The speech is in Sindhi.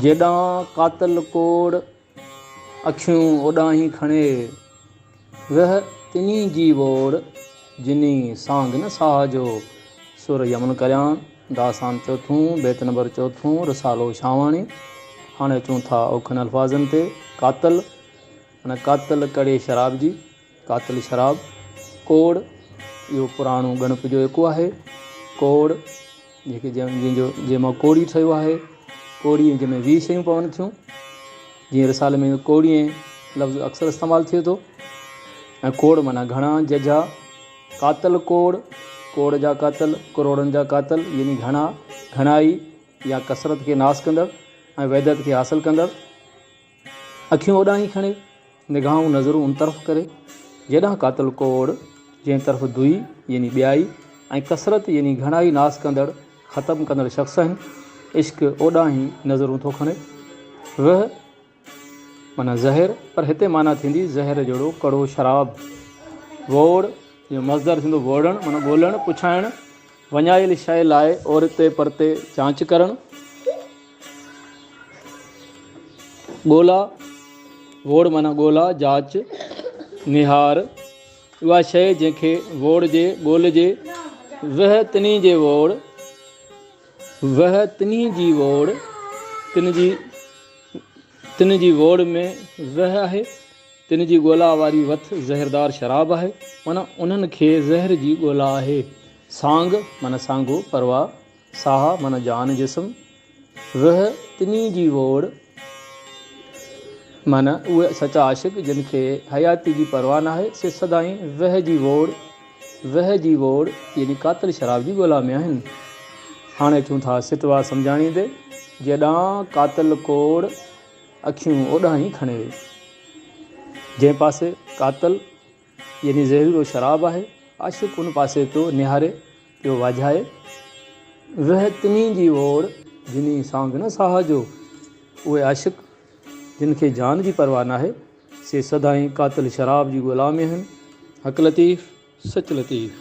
جيڏانهن قاتل ڪوڙ اکيون اوڏانهين کڻي ويهه تنهي جي ووڙ جني سانگ نه ساهه جو سر يمن ڪريان داستان چوٿون بيت نمبر چوٿون رسالو شاهواڻي هاڻي اچون ٿا اوکن الفاظن تي قاتل ۽ قاتل ڪڙي شراب جي قاتل شراب، ڪوڙ، اهو پراڻو ڳڻپ جو ايڪو آهي. ڪوڙ، جيڪي جنهن جو جنهن مان ڪوڙي ٺهيو آهي. ڪوڙي ۽ جنهن ۾ ويهه شيون پون ٿيون. جيئن رسالي ۾ ڪوڙي لفظ اڪثر استعمال ٿئي ٿو ۽ ڪوڙ معنيٰ گهڻا، ججها، قاتل ڪوڙ، ڪوڙ جا قاتل، ڪروڙن جا قاتل يعني گهڻا، گهڻائي يا ڪثرت کي ناس ڪندڙ ۽ وحدت کي حاصل ڪندڙ. اکيون اوڏانهن ئي کڻي، نگاهون نظرون ان طرف ڪري، جيڏانهن قاتل ڪوڙ، جنهن طرف دوئي يعني ٻيائي ۽ ڪثرت يعني گهڻائي ناس ڪندڙ، ختم ڪندڙ شخص آهن، عشق اوڏانهن ئي نظرون ٿو کڻي. وهه معنيٰ زهر، پر هتي معنيٰ ٿيندي زهر جهڙو ڪڙو شراب. ووڙ جو مصدر ٿيندو ووڙڻ معنيٰ ڳولڻ، پڇائڻ. وڃايل شيء لاء اورتي پرتي جاچ ڪرڻ، ڳولا، ووڙ معنيٰ ڳولا، جاچ، نهار، اها شيء جنهن کي ووڙجي، ڳولجي، ويهه تنهي جي ووڙ، ويهه تنهي جي ووڙ، تن جي، تن جي ووڙ ۾ ويهه آهي. تن جي ڳولا واري وٿ زهردار شراب آهي، معنيٰ انهن کي زهر جي ڳولا آهي. سانگ، معنيٰ سانگو، پرواء، ساهه، معنيٰ جان جسم، وهه، تني جي ووڙ، معنيٰ اهي سچا عاشق جن کي حياتي جي پرواهه ناهي، سي سدائين وهه جي ووڙ، وهه جي ووڙ، يعني قاتل شراب جي ڳولا ۾ آهن. هاڻي اچون ٿا سٽوا سمجهاڻيندي جيڏانهن، قاتل ڪوڙ. اکيون اوڏانهن ئي کڻي ويئي، جنهن پاسي قاتل يعني زهريلو شراب آهي، عاشق ان پاسي پيو نهاري، پيو واجهائي، ويهه تنهين جي ووڙ، جني سانگ نه ساهه جو. اهي عاشق، جن کي جان جي پرواهه ناهي، سي سدائين قاتل شراب جي غلام ئي آهن. حق لطيف، سچ لطيف.